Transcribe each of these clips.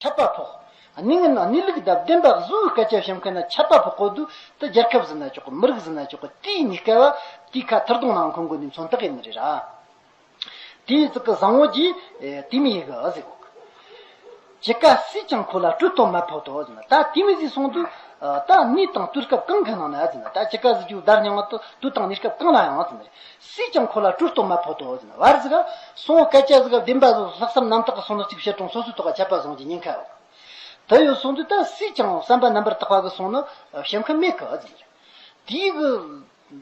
ཁྱབ་པ་ཕོག། གནས་ངན་ན་ནི་ལུག་གདབ་བདེན་པ་བཟོ་བོའི་སྐལ་ཆ་བཤམ་མཁན་ན་ཁྱབ་པ་ཕོག་གོ་དུ་དུ་རྒྱལ་ཁབ་ཟིན་ན་ཆོག་གོ་མི་རིགས་ཟིན་ན་ཆོག་གོ་དེའི་ནི་སྐལ་བ་དེའི་ཁ་ཐིར་གདོང་ནང་འཁོན་དགོས་ནི་མཚོན་རྟགས་ཡིན་ནི་རེད་ར། དེའི་ཙི་ཀི་བཟང་བོ་གྱིས་དེ་མི་ཡི་གི་ཨ་ཟེ་གོ། ཇི་ཀ་སྲིད་ཀྱང་ཁོ་ལ་སྤྲུ་གཏོང་མ་ཕོག་དོ་ཟེ་ན་ད་དེ་མི་ཟིག་སོང་དུ་ད་ནི་དང་དུར་སྐབས་གང་གི་ནང་ན་ཨ་ཟེ་ན་ད་ཇི་ཀ་ཟིག་ཀྱུ་བདར་མྱང་བ་དུ་དང་ནི་སྐབས་གང་ལ་ཡང་ཨ་ཟེ་ན་རེད་སུས་ཀྱང་ཁོ་ལ་སྤྲུལ་གཏོར་མ་ཕོག་ཏུ་འོས་ཟིན། བར་ཟིག། སོང་སྐད་ཆ་ཟིག་བདེན་པ་ཟིག་ལྷག་བསམ་རྣམ་དག་གི་སོང་ལོ་གཅིག་བཤད་གྲོང་སོ་སོའི་ཐོག་ཁ་ཆད་པ་བཟང་གྱི་ཉེན་ཁ་འོག་དུ་ཡོད་སོང་དུས་ད་སུས་ཀྱང་བསམ་པ་རྣམ་པར་དག་པ་གི་སོང་ནི་བཤད་མཁན་མེད་གི་འོས་ཟིན། དེའི་གི་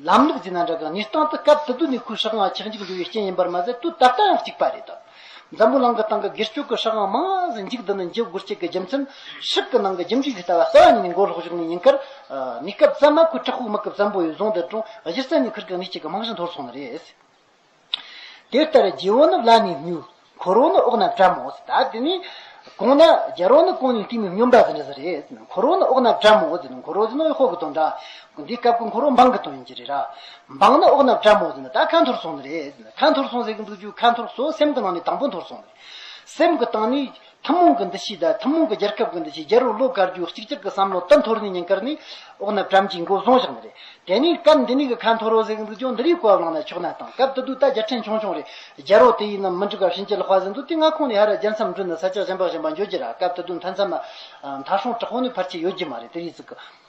ལམ་ལུགས་ཟིན་ན་འདྲ་གི་ངེས་སྟངས་དུ་སྐབས་དུ་དུ་ནས་ཁོའི་ཧྲག་ང་ཆག་འཇིག་འགྲོ་བའི་རྐྱེན་ཡིན་པར་མ་ཟད་དུས་ད་ལྟ་ཡང་གཅིག་པ་རེད་དམ། འཛམ་བུ་གླང་གི་སྟེང་གི་སྒེར་སྤྱོད་ཀྱི་ཧྲག་དབང་མང་ཟིན་འཇུག་འདི་ནི་འཇིགས་སྒོར་གཅིག་གི་རྒྱུ་མཚན། ཧྲིག་གི་ནང་གི་རྒྱུ་འབྲས་ཞིག་ལྟ་བ་རྩ་བ་ཉིད་ནས་མགོ་ལོག་བཞུགས་ནས་ཉིན་དཀར། གནས་སྐབས་གཙང་མ་ཁུལ་བྲག་ཕུག་དམག་སྐབས་ཙམ་པོ་ཡུལ་རྫོང་འདི་གྲོང་གཞིར་རྩེ་ནས་ཁུར་གང་ཉིད་ཅིག་གི་དམག་གཞི་འཐོར་སོང་བ་རེད། དེ་ལྟར་རྗེ་བོ་ནི་བླ་ནས་སྨྱུག། འཁོར་བོ་ནི་འོག་ན་བཀྲ་མོ། ད་དེ་ནས་གོང་ན་རྒྱལ་བོ་ནི་གོང་ནས་བསྟིམས་པའི་སྨྱོན་པ་ཟེར་ན་ཟེར་རེད། འཁོར་བོ་ནི་འོག་ན་བཀྲ་མོ། འཁོར་བོ་ཟེར་ན་ཡོད་ཧོར་གྱི་དོན་འདྲ། འདི་སྐབས་ཀྱི་འཁོར་བོ་འབངས་ཀྱི་དོན་ཡིན་གྱི་རེད་ར། འབངས་ནི་ཨོག་ནག་བཀྲ་མོ་ཟེར་ན་ད་ཁ་འཐོར་སོང་ནི་རེད། ཁ་འཐོར་སོང་ཟེར་གི་འདུག་ཅུང་ཁ་འཐོར་སོ་སེམས་ཀྱི་ནང་ནས་དང་པོ་འཐོར་སོང་ནི། སེམས་ཀྱི་སྟེང་ནས། ཐུན་མོང་གི་འདུ་ཤེས་དང་ཐུན་མོང་གི་རྒྱལ་ཁབ་ཀྱི་འདུ་ཤེས་རྒྱལ་རོང་བློ་དཀར་རྒྱུད་གཅིག་གྱུར་གྱི་བསམ་བློ་དུ་འཐོར་ནས་ཉིན་དཀར་ནི། ཨོག་ནག་བཀྲམ་གྱིས་མགོ་བཟུང་བཞག་ནི་རེད། དེ་ནས་སྐབས་འདི་ནས་གི་ཁ་འཐོར་རོ་ཟེར་གི་འདུག་ཅུང་འདི་རིགས་གོ་བ་ལངས་ན་ཆོག་ན་དང་སྐབས་དེ་དུས་ད་རྒྱལ་ཕྲན་ཆུང་ཆུང་རེད། རྒྱལ་རོང་དེ་ཡིན་ནམ་མི་འགྲིག་ག་ཕྱིན་ཆད་ལྷག་པ་ཟེར་འདུག་དེ་སྔ་ཁོང་ནས་ཧ་ར་རྒྱལ་མཚམས་འདྲུད་ནི་ས་ཆ་གཞན་པ་གཞན་པ་འཇོག་རྒྱུ་ར་སྐབས་དེ་དུས་མཐའ་མཚམས། མཐའ་སྲུང་དྲག་པོ་ནི་ཕར་ཆེར་ཡོད་རྒྱུ་མ་རེད་དེ་རིགས་ཟིག་གི།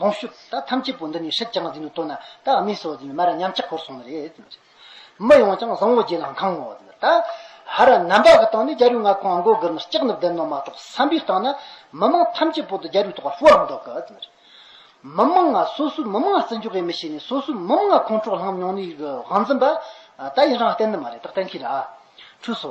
ལོངས་སྤྱོད་དག་ཐམས་ཅད་པོ་འདི་ནི་ཧྲིག་ཀྱང་འཛིན་དུ་བཏོན་ན་དག་དམིགས་སུ་འཛིན་པའི་མེ་ར་ཉམས་ཆག་འཁོར་སོང་ནི་རེད། མི་ཡོངས་ཀྱང་བཟང་བོ་བརྒྱད་ལ་འཁང་ངོ། ཧ་ར་ནམ་པ་གི་སྟེང་ནས་རྒྱ་རུས་ལྔ་ཁོང་མགོ་གིར་ནི་ལྕགས་ནི་བརྡལ་ནོ་མ་གཏོགས་བསམ་པའི་སྟེང་ན་མི་མང་ཐམས་ཅད་པོ་འདི་རྒྱ་རུས་ཐོག་ལ་ཤོར་འདུག་གི། མི་མང་ང་སོ་སོའི་མི་མང་བརྩི་འཇོག་གིས་མི་བྱེད་ནས་སོ་སོའི་མི་མང་ཁོང་ཁྲོ་ལྷང་མྱོང་ནས་གི་དབང་འཛིན་པ། ད་ཡིན་རང་བསྟན་ནི་མ་རེད་དག་བསྟན་ཁས་ལ་འཁྲུལ་སོ།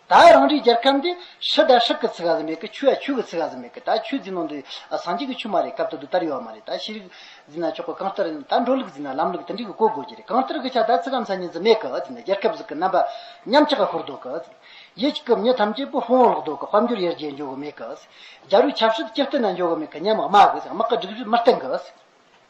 ད་རང་རེའི་རྒྱལ་ཁམས་འདི་ཧྲི་ད་ཧྲི་གི་ཚིག་ག་ཟི་མེད་གི་ཆུ་ཡ་ཆུ་གི་ཚིག་ག་ཟི་མེད་གི་ད་ཆུ་འཛིན་ནོ་འདི་ཟངས་ཀྱི་གི་ཆུ་མ་རེད་སྐབས་ད་དུ་དར་ཡོད་བ་མ་རེད་ད་ཤི་རིག་འཛིན་ན་ཆོག་གི་གང་ལྟར་ད་འགྲོ་ལུགས་འཛིན་ན་ལམ་ལུགས་དེ་འདྲི་གི་གོ་དགོས་ཀྱི་རེད་གང་ལྟར་གི་ཆ་ད་ཚིག་གམ་ས་ཉིན་ཟི་མེད་གི་འཛིན་ན་རྒྱལ་ཁབ་ཟི་གི་རྣམ་པ་ཉམས་ཆག་གི་ཧུར་དོག་གི་ཟི་ཡེ་གི་མྱི་ཐམས་ཅད་པུ་ཧོང་ལོག་དོག་གི་དཔལ་འབྱོར་ཡར་རྒྱས་འཇོག་གི་མེད་གི་ཟི་རྒྱ་རུ་ཆབ་སྲིད་སྤྱི་བསྟུན་ན་འཇོག་གི་མེད་གི་ཉམས་དམག་གི་ཟི་དམག་གི་སྒྲིག་གཞི་མི་བརྟན་གི་ཟི།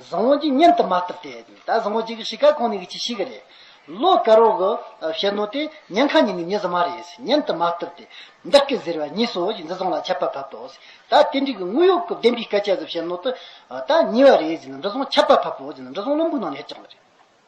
བཟང་བོ་གཅིག་མཉམ་དུ་མ་བཏབ་སྟེ། ད་བཟང་བོ་གཅིག་གི་གཤིས་ཀ་གང་ནས་ཀྱི་གཤིས་ཀ་རེད། ལོ་དཀར་བོ་གི་བཤད་ནོ་དེ་ཉལ་ཁ་ཉིན་ནས་ཉི་གཟི་མ་རེད། མཉམ་དུ་མ་བཏབ་སྟེ། བདག་གིས་ཟེར་བ་གཉིས་སོ་ཞེས་འཛི་བཟང་ལ་ཆད་པ་ཕབ་ཏོ། ད་དེ་འགྲིག་གི་དངུལ་གཡོག་གི་བདེན་པའི་སྐད་ཆ་ཟེར་བཤད་ནོ་དེ་ད་ཉེས་བ་རེད་ཟེར་ནས་འཛི་བཟང་ཆད་པ་ཕབ་པོ་ཟེར་ནས་འཛི་བཟང་བློན་པོའི་ནང་ནས་ཧད་ཅིག་ལ་རེད།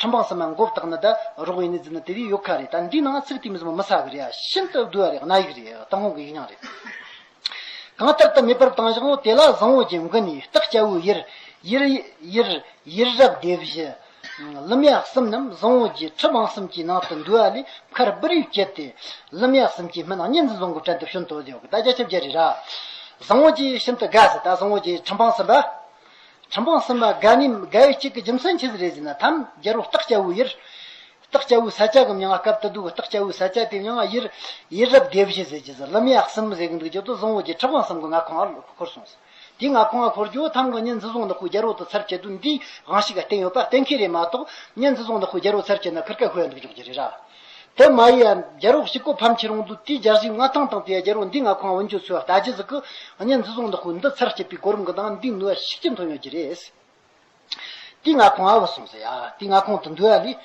ཁྲིམས་དཔང་གསར་མ་འགོ་བཏགས་ན་ད་རོགས་ཡིན་ནི་རྫུན་ན་དེ་བས་ཡོད་ཁ་རེད་ད་འདི་ནང་ཚིག་དེ་མི་ཚང་མ་མི་ཟ་གི་རེད་ཨ་ཤིན་ཏུ་དགོས་བ་རེད་གནའ་ཡིག་རེད་ཏང་ཧོང་གི་ཡིག་ཉག་རེད། གང་ལྟར་ད་མེ་འབར་བཏང་བཞག་ཨོ་དེ་ལ་བཟང་བོ་ཅན་མགོན་ནི་སྟག་སྐྱ་བོའི་ཡིར། ཡིར། ཡིར། ཡིར་རབ་བདེ་བཞི། ལུམ་ཡག་གསུམ་རྣམས་བཟང་བོ་རྒྱའི་ཁྲི་འབངས་གསུམ་གྱི་ནང་དུ་འདུས་བ་ལས་མཁར་སྦུར་ཡུལ་བསྐྱེད་དེ། ལུམ་ཡག་གསུམ་གྱི་མི་རྣམས་གཉིས་འཛིན་བཟང་གོ་བྲན་དུ་ཤོན་ཏོ་ལེའོ་གི་ད་རྒྱ་ཁྱབ་རྒྱ་རེད་ར། བཟང་བོ་རྒྱའི་ཤིན་ཏུ་དགའ་ཟེར་ད་བཟང་བོ་རྒྱའི་ཁྲི་འབངས་གསུམ་པ། ཁྲིམས་དཔང་གསུམ་པ་དགའ་ནི་དགའ་ཡུལ་གཅིག་གི་རྒྱུ་མཚན་ཆི་ཟི་རེ་ཟི་ན་ཐམ་རྒྱལ་བོ་སྟག་སྐྱ་བོའི་ཡིར། སྟག་སྐྱ་བོའི་ས་སྐྱ་གི་མྱང་བ་སྐབས་དུ་དུ་སྟག་སྐྱ་བོའི་ས་སྐྱ་དེའི་མྱང་བ་ཡིར། ཡིར་རབ་བདེ་བཞི་ཟེར་གྱི་ཟི་ལི་མི་ཡག་གསུམ་ཟེར་གི་འདུག་རྒྱུ་དུ་བཟང་བོ་གྱི་ཁྲིམས་དཔང་གསུམ་གི་ང་ཁོང་ཨར་འཁོར་སོང་ཟེར། དེའི་ང་ཁོང་ཨར་འཁོར་རྒྱུ་ཐམ་གི་གཉེན་འཛི་བཟུང་ནི་ཁོའི་རྒྱལ་བོ་དང་ཚར་བཅད་དུས་འདིའི་དབང་ཤིག་ག་བསྟན་ཡོད་པ་གཏན་འཁེལ་རེད་མ་གཏོགས་གཉེན་འཛི་བཟུང་ནི་ཁོའི་རྒྱལ་བོ་ཚར་བཅད་ན་ཁུར་ཁ་ཤོད་འདུག་འཇོག་རྒྱུ་རེད་ར། དེ་མ་ཡིན་ཡང་རྒྱལ་རོགས་ཤིག་གོ་ཕམ་ཁྱེད་རང་དུ་དེའི་སྦྱར་གཞི་ང་ཐང་དང་དེའི་རྒྱལ་རོགས་འདི་ང་ཁོང་འོན་ཆོས་ཚོས་བལྟ་རྗེས་གཟིགས་ཀི་ཨ་ནི་འཛི་བཟུང་འདི་ཁོ་འདི་ཚར་སྐྱེད་པའི་གོ་རིམ་གི་ནང་འདི་ནུས་བ་ཤིག་ཅི་འཐོན་ཡོད་ཀྱི་རེད། དེས་ང་ཁོང་ཨའོ་སོང་ཟེར་ཡ་དེས་ང་ཁོང་དུ་འདུལ་བ་ལས།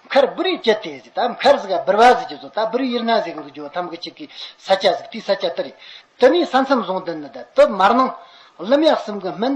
མཁར་སྦུ་རིའི་སྐྱེད་དེ་ཟིག་ད་མཁར་ཟིག་ཨ་སྦུར་བ་ཟིག་ཅེས་བཟོ་ད་སྦུར་དབྱེར་སྣ་ཟིག་འདུག་ཇོ་ཐམ་གི་ཆེད་ཀི་ས་སྐྱ་ཟིག་དེའི་ས་སྐྱ་དེ་རེད། དེ་ནས་ས་མཚམས་བཟུང་དེ་ནི་ད་དུ་མར་ནང། གླུ་མེག་སིམ་གི་སྨན།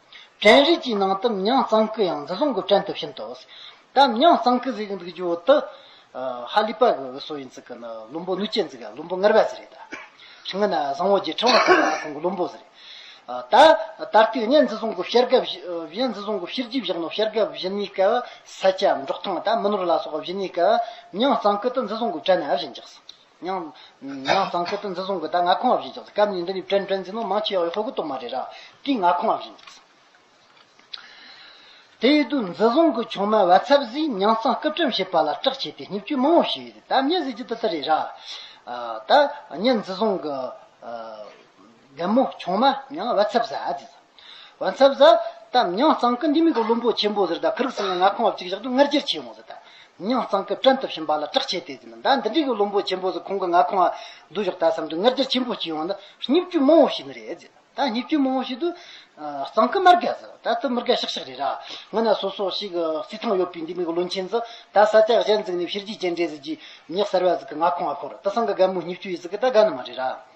བྲན་རིགས་ཀྱི་ནང་དུམ་ཉམས་གཙང་སྐུད་ཡང་འདི་བཟུང་གི་བྲན་དུ་ཕྱིན་ཏོ། དམ་ཉམས་གཙང་སྐུད་ཟེར་གྱི་འདུག་རྒྱུ་བོ་དུ། ཧ་ལི་པ་གི་སོ་ཡིན་ཙི་གི་ནི་ལུམ་པོ་ནུ་ཅན་ཙི་གི་ལུམ་པོ་ངར་བ་ཟེར་རེད་ད། ཕྱི་ངོས་ན་བཟང་བོ་རྗེ་ཕྲེང་བ་ཟེར་བ་ཁོང་གི་ལུམ་པོ་ཟེར་རེད་ད། ད་ལྟའི་གནས་འདི་བཟུང་གི་བཤེར་དགའ་བཞི་འདི་བཟུང་གི་བཤེར་རྗེས་བཞག་ནི་བཤེར་དགའ་བཞི་གཉིས་ཀ་བ་ས་སྐྱ་འབྲོག་ཐང་དང་མི་ནོར་ལ་སོགས་བཞི་གཉིས་ཀ་བ་ཉམས་གཙང་སྐུད་དུ་འདི་བཟུང་གི་བྲན་ནི་ཨ་བཞི་འཇགས་སོ། ཡང། ཡང་གཙང་སེལ་དུ་འཛིན་བཟུང་གི་ད་ང་ཁོང་བ་བཞིན་ཅིག་སྐབས་ཉིན་འདི་ནས་བཀྲེན་བཀྲེན་འཛིན་ནོ་མང་ཆེ་བ་ཡང་ཧོལ་གོ་གཏོང་མ་རེད་ར་དེ་ང་ཁོང་བ་བཞིན་ཅིག། དེ་ཡོད་དུས་འཛིན་བཟུང་གི་ཆུང་མ་བ་ཚབ་ཟིས་ཉང་གཙང་སྐུ་ཕྲེང་བྱེད་པ་ལ་སྐྲག་བྱས་ཏེ་སྙིབ་སྐྱོན་མང་བོ་བྱས་ཡོད་དེ་ད་ངས་ཟེར་རྒྱུ་དེ་ལྟར་རེད་ར། ད་ངས་འཛིན་བཟུང་གི། བདེ་མོ་ཆུང་མ་མྱང་བ་ཚབ་ཟ་ཟེར། བ་ཚབ་ཟ། ད་མྱང་གཙང་ཀི་འདི་མི་གོ་བློན་པོ་ཆེན་པོ་ཟེར་ད་ཁིར་སིང་ལ་ང་ཁང་བ་གཅིག་བཞག་དུས་ངར་ཅེར་ཆས་འོང་ཟེར་ད། མྱང་གཙང་ཀི་བྲན་སྟོབས་ཞིམ་པ་ལ་དྲག་ཆས་དེ་ཟེར་ན་ད་འདི་འདྲས་གི་བློན་པོ་ཆེན་པོ་ཟེར་ཁོང་གི་ང་ཁང་བ་བསྡུ་བཞག་ད་བསམ་དུས་ངར་ཅེར་ཆེན་པོ་གཅིག་ཡོང་ན་སྙིབ་ཅུ་མང་བོ་ཞིག་ནི་རེད་ཟེར་ད་སྙིབ་ཅུ་མང་བོ་ཞིག་ཏུ། གཙང་ཀི་མར་གས་ཟེར་ད་ཏི་མིར་གས་ཤག་ཤག་རེད་ར། ངོ་ན་སོ་སོ་ཞིག་བསིལ་ཐང་ཡོད་པའི་འདི་མི་གོ་བློན་ཆེན་ཟེར་ད་ས་ལྕགས་གཞན་བརྩིགས་ནས་ཕྱིར་རྒྱུས་ཅན་འདྲས་ཟེར་གྱིས་མྱག་གསར་བ་ཟིག་གི་ང་ཁང་བ་ཁོར་ད་སང་གི་སྒ་མོ་སྙིབ་ཅུ་ཡིས་ཟིག་གི་ད་སྒ་ནི་མ་རེད་ར།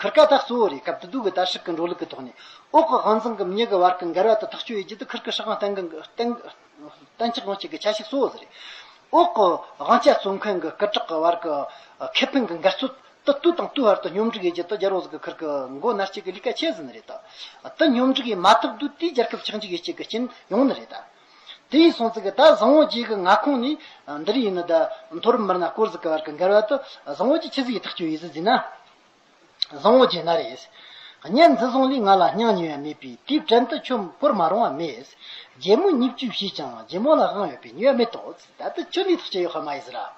ཁར་ཀ་དག་གཙོ་བོ་རེད་སྐབས་དེ་དུས་ཀྱི་དར་ཧྲིག་གི་འགྲོ་ལུགས་ཀྱི་ཐོག་ནས། འོག་གི་དབང་འཛིན་གམ་གཉིས་ཀྱི་བར་གྱི་འགལ་བ་དང་ཐག་གཅོད་ཡོད་རྒྱུ་དེ་ཁར་ཀའི་ཧྲི་དབང་གཏན་འགལ་གཏན་གཏན་འཁྱགས་རུང་བྱེད་དགོས་ཆ་ཤས་གཙོ་བོ་དེ་རེད། འོག་གི་དབང་ཆ་བཙོང་མཁན་གྱི་སྐུ་དྲག་གི་བར་གྱི་ཁེ་ཕན་གྱི་འགལ་རྩོད་དེ་དུས་དང་དུས་བར་དུ་སྙོམས་སྒྲིག་ཡོད་རྒྱུ་དེ་རྒྱ་རོགས་ཟིག་གི་ཁར་ཀའི་མགོ་ནར་སྐྱེལ་གྱི་ལས་ཀ་ཆེ་ཟིན་ནི་རེད། དེ་སྙོམས་སྒྲིག་ཡིན་མ་ཐག་དུས་དེའི་རྒྱལ་ཁབ་ཆགས་འཇིག་ཡོད་ཆེད་ཀྱི་རྐྱེན་ཡོང་ནི་རེད། དེ་ཡིས་སོང་ཚིག་གི་ད་བཟང་བོ་རྗེས་ཀྱི་མངའ་ཁོངས་ནི་འདིར་ཡིན་ནོ། མཐོ་རིམ་མི་སྣ་སྐོར་ཟིག་གི་བར་གྱི་འགལ་བ་དུ་བཟང་བོ་རྗེས་ཁྱི་ཟིག་གི་ཐག་གཅོད་ཡིན་ཟིག་འཛིན་ན། བཟང་བོ་རྗེས་ན་རེད། གཉེན་འཛི་བཟང་ལས་ང་ལ་སྙང་ཉེ་བ་མེད་པས་དེའི་བྲན་དུ་ཁྱོད་བོར་མ་རུང་བ་མེད། རྗེ་མོ་སྙིབ་བཅུས་བྱས་ཀྱང་རྗེ་མོ་ལ་དབང་ཡོད་པས་ཉོས་མེད་དོ། ད་དུ་ཁྱོད་འདིའི་ཐག་བཅད་ཡོད་ཁ་མ་ཡིན་ཟེར་ར།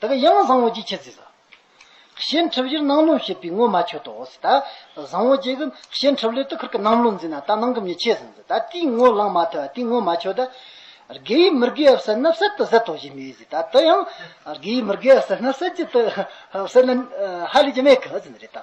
དག་གི་ཡང་བཟང་བོ་ཅིག་འཆད་ཟིས། གཤེན་ཁྲི་བཞིར་སྣང་ལུང་བྱེད་པའི་ངོ་མ་ཆོད་དོ། ད་བཟང་བོ་ཅིག་གི་གཤེན་ཁྲི་བློས་དུ་ཁུར་གི་སྣང་ལུང་འཛིན་ན་ད་སྣང་གི་མྱི་འཆད་ཟིས། ད་དེའི་ངོ་ལངས་མ་ཐོས་དེའི་ངོ་མ་ཆོད། དགེ་བའི་མི་དགེ་བ་བསད་ན་བསད་དུ་ཟད་དོ་ཞེས་སྨྲས་ཟིས། ད་དེ་ཡང་དགེ་བའི་མི་དགེ་བ་བསད་ན་བསད་ཀྱི་དུ་བསད་ན་ཧ་ལས་ཀྱི་མེད་གི་ཟིན་རེད་ད།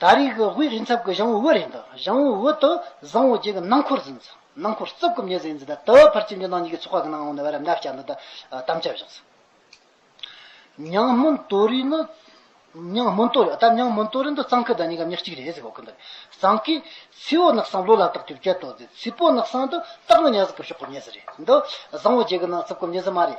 ད་རེས་ཀྱི་དབུས་རི་འཚབ་ཀྱི་ཞང་བོའུ་རེད་འདུག་ཞང་བོའུ་དུ་བཟང་བོ་བཅས་ཀྱི་ནང་འཁོར་ཟིན་སོང། ནང་འཁོར་རྩུབ་གོམས་ཉེས་ཟིན་ཟིན་ད་དུ་ཕར་ཕྱིན་རྒྱུ་ནང་གཉིས་ཀྱི་ཚོགས་ཁག་གི་ནང་འོང་ནས་བར་འགའ་སྐྱ་འདི་དང་དམ་བཅའ་བཞག་སོང། ཉང་སྨོན་ཏོ་རི་ནི། ཉང་སྨོན་ཏོ་རི་ཨ་ད་ཉང་སྨོན་ཏོ་རི་འདི་གཙང་ཁུལ་དང་གཉིས་ཀ་མཉེར་གཅིག་རེད་ཟེར་གོ་གི་འདུག་གཙང་ཁུལ་ཚི་བོ་ནག་སང་ལོ་ལ་དག་ཀྱུར་སྐྱེལ་ཏོ་ཟེར་ཚི་བོ་ནག་སང་དུ་སྟག་ལོ་ཉག་ཟིག་གི་ཕྱོགས་ཀྱི་གཉེས་ཟིག་རེད་འདུག་བཟང་བོ་བཅས་ཀྱི་ནང་རྩུབ་གོམས་ཉེས་ཟིན་མ་རེད།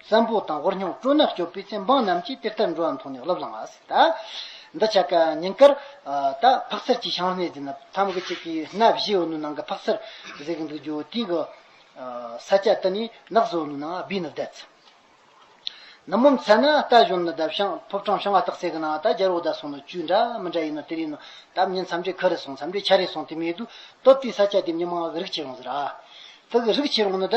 བཙན་པོ་དང་ཧོར་སྙོམས་སྤྲོ་ན་སྐྱོབ་པའི་ཚེ་འབངས་རྣམས་ཀྱིས་གཏེར་ལྟར་འགྲོ་བ་མཐོང་ནས་སློབ་བླངས་པ། འདི་ཆ་ག་ཉིན་སྐར། ད་ཕག་ཚལ་གྱི་ཤང་སྣེ་འདི་ན་ཐམ་ག་ཅིག་གི་སྣ་བཞི་འོ་ནུ་ནང་གི་ཕག་ཚལ་བཟེད་གི་འདུག་རྒྱུ་དེ་གི། ས་སྐྱ་དེ་ནི་ནགས་བཟོ་འོ་ནུ་ནང་སྦིས་ནི་བསྡད། ནུབ་མོ་མཚལ་ན་རྟ་གཞོན་ནི་བསྡད་ཤང་ཕུབ་སྤྲང་ཤང་ང་སྟག་སེ་གི་ནང་ད་རྒྱལ་བོ་ད་སོང་ནི་བཅུད་འདྲ་མི་འདྲ་ཡིན་ནོ་དེར་ཡིན་ནོ་ད་མྱི་མཚམས་འདྲེ་ཁ་རེ་སོང་མཚམས་འདྲེ་ཆ་རེ་སོང་དེ་མེད་དུ་སྟོབས་དེའི་ས་སྐྱ་དེ་མྱི་མང་གི་རིགས་ཆེ་རུང་ཟེར། དེ་གི་རིགས་ཆེ་རུང་ནི་ད།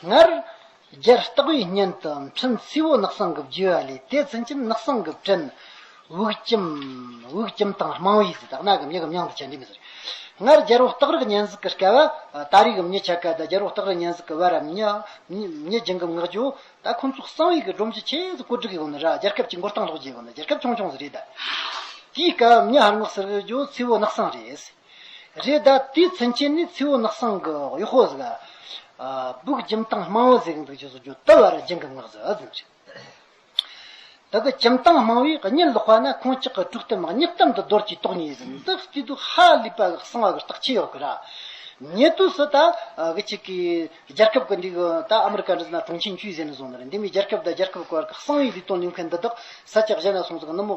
སྔར། རྒྱལ་རྟགས་བས་སྙན་དུ་འཕྲིན་བསིལ་བོ་ནགས་སྲང་གི་བརྒྱུད་བ་ལས་དེ་ཚུན་ཆད་ནགས་སྲང་གི་སྤྲིན། དབུགས་ཀྱིམ། དབུགས་ཀྱིམ་དང་རྨང་བའི་ཟེར་དག་ནག་གིམ་ཡིག་གིམ་དབྱངས་དང་ཆད་འདྲེས་མི་ཟེར། སྔར། རྒྱལ་པོ་སྟག་རི་གི་སྙན་གཟིགས་ཀྱི་སྐལ་བ། ད་རེས་གིམ་མྱི་ཆ་སྐལ་ད་རྒྱལ་པོ་སྟག་རི་སྙན་གཟིགས་ཀྱི་བར་རམ་མྱི། མྱི་སྦྱིན་གིམ་ངག་རྒྱུ། ད་ཁོ་ཚོ་གསང་བའི་གི་སྒྲོམ་གྱི་ཆེད་དུ་བཀོད་སྒྲིག་གི་གོ་ནི་ར་རྒྱལ་ཁབ་ཀྱི་མགུར་སྟངས་ལྷོག་རྒྱས་གོ་ནི་རྒྱལ་ཁབ་ཆུང་ཆུང་ཟེར་རེད་ད། དེའི་སྐལ་བའམ་མྱི་ཧར་ངོགས་ཟེར་གྱི་རྒྱུ་ཚི་བོ་ནགས་སྲང་རེད། རེད་ད་དེའི་མཚོན་བྱེད་ནི་མཚེའུ་ནག་སང་གི་ཝེ་ཧོ་ཟིག་ཨ། སྦུག་འཇིམ་སྟངས་དམངས་བོ་ཟིག་འདུག་ཅེས་སོགས་རྒྱུ་ལྟ་བར་སྦྱིན་གི་ངག་ཟིག་ཨ་ཟིན་རེད། ད་གི་འཇིམ་སྟངས་དམངས་བོས་གཉིད་ལོག་པ་ན་ཁོང་ཅག་གི་དཀྲུགས་གཏམ་ངག་སྙིགས་གཏམ་དུ་རྡོར་གྱིས་རྟོགས་ངེས་ཟིན་འདུག་སྐྱིད་སྡུག་ཧ་ལས་པ་གི་གསང་བ་གི་རྟགས་ཆད་ཡོད་གི་ར། ཉེ་དུས་སུ་ད་གི་ཅིག་གིས་རྒྱལ་ཁབ་གི་འདི་གི་ད་ཨ་མི་རི་ཀ་འདི་ན་གྲོང་ཁྱེར་འཁྱུད་ཟེར་ནས་བཟུང་ནི་རེད་འདི་མི་རྒྱལ་ཁབ་ད་རྒྱལ་ཁབ་གི་བར་གི་གསང་བའི་འདི་སྟོང་ཉུང་མཁན་འདི་དག་ས་སྐྱ་གཞན་ན་སོང་ཚུགས་ནི་མོ་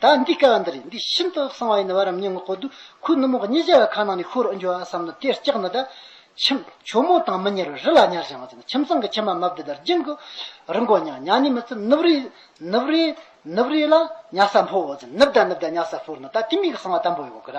ད་འདི་སྐལ་བ་འདི་རེད་འདི་ཤིན་ཏུ་གསང་བ་ཡིན་བར་རམ་སྙིང་གོ་དུ་ཁུ་ནུ་མོ་གཉིས་སྦྱར་བའི་ཁ་ནང་ནས་ཤོར་འགྱུར་བ་བསམ་ན་དེ་སྐྱག་ནི་ད། ཁྱིམ། ཁྱོ་མོ་དང་མི་གཉེར་བའི་རི་ལ་ཉར་བཞག་མ་ཚུད་ན་ཁྱིམ་ཚང་གི་ཁྱིམ་མ་མ་བདེ་དར་རྒྱུན་གོ། རི་མགོ་ཉག་ཉག་ནས་མི་ཚེ་ནུབ་རི། ནུབ་རི། ནུབ་རི་ལ་ཉག་ས་འཕོ་བ་བཞིན་ནུབ་ད་ནུབ་ད་ཉག་ས་ཕོར་ན་ད་དེ་མིག་གི་གསང་བ་དམ་པོ་ཡོད་གོ་ར།